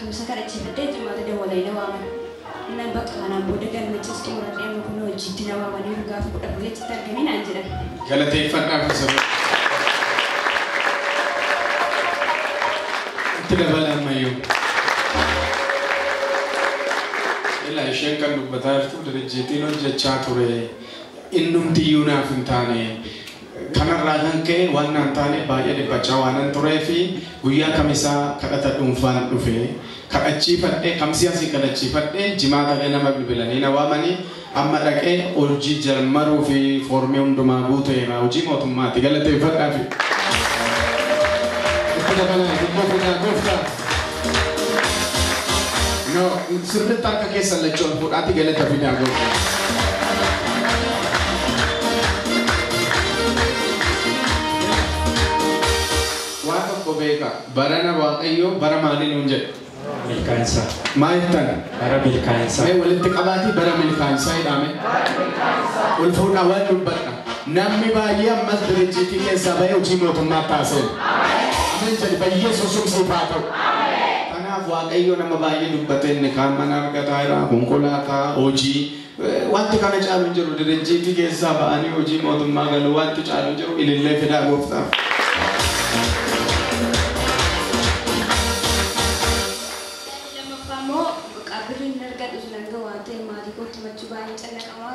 Kamisa kadhachiifadhee Jimaata dawwalanii na waaman. Nan baqa kanaan booda galmechas xumuradhee amma kunoo hojiitti na waamaniiru gaafa 14 achitti argami naan jedhan. Galateeffadhaa fi saba Itti dabala ammayyuu. Ilaa isheen kan dubbataa jirtu dirijjiitiin hojjechaa ture innumtiyyuu naaf hin taane Kanarraa kan ka'e waan naan taaneef baay'ee dhiphachaa waanan tureef guyyaa kamisaa kadhata dhuunfaan dhufe. Kadhachiifadhee kamsii asii kadhachiifadhee jimaata illee nama bilbilanii na waamanii amma dhaqee hojii jalmaruuf foormii hundumaa guuteera. Hojii mootummaati galateeffadhaafi. Itti dabalaa, itti dabalaa, gooftaa. No, sirriitti harka keessan lachuu ol fuudhaatti galata fidaa gooftaa. Waa tokko beeka barana waaqayyoo bara maalii nuun jedhe Milkaa'insa. maal jettan Bara milkaa'insa. mee walitti qabaatii bara milkaa'insaa jedhame ol fuudhaa waan dubbadha Namni baay'ee ammas dirijjiitii keessaa ba'ee hojii mootummaatti haa seenu. Ameen jedhi bayyeessuun sun siif haa ta'u. Kanaaf Waaqayyo nama baay'ee dubbatee inni kaan mana argataa jira, konkolaataa, hojii. Wanti kana caalu hin jiru dirijjiitii keessaa ba'anii hojii mootummaa galuu wanti caalu hin jiru ilillee fidaa gooftaaf. Yaadni lammaffaa immoo qabbirri hin argadhu sun hanga waan ta'e maatii kootti machuu baay'ee cannaqamaa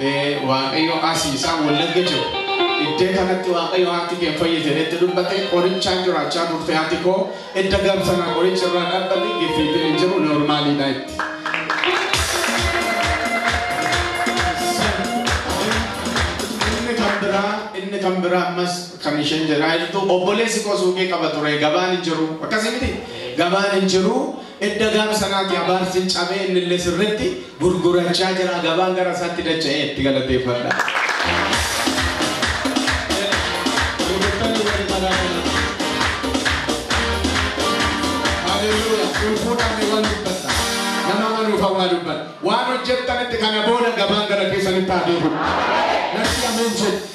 Ee waaqayyo asi isaan wallagga jiru iddee kanatti waaqayyo haati kee hin fayyite jedhetti dubbate qorichaan jiraachaa turte haati koo edda gab sana qorichi irraa dhabbate giffiitiin hin jiru noormaaliidha itti. Inni kan biraa inni kan biraa ammas kan isheen jedhaa jirtu obboleessi koo suuqii qaba ture gabaan hin jiru akkasii miti gabaan hin jiru Edda gaafa sanaati abaarsi cabee innillee sirritti gurgurachaa jira gabaan gara isaatti dacha'ee itti galateeffadha. Haleluuyaa cubbuudhaan ni waan dubbatta nama manuuf hawaa dubbatta waan hojjettanitti kana booda gabaan gara keessanitti haa deebi'u. Natti ameen jedhi.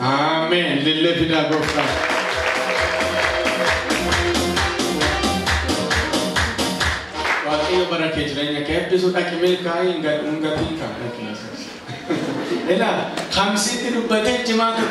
Amen. Lillee fidaa gooftaa. Waaqayyo bara kee jireenya kee eebbisu dhaqi milkaa'ii hin gatiin kan dhaqi. Ilaa kamsiitti dubbatee jimaata.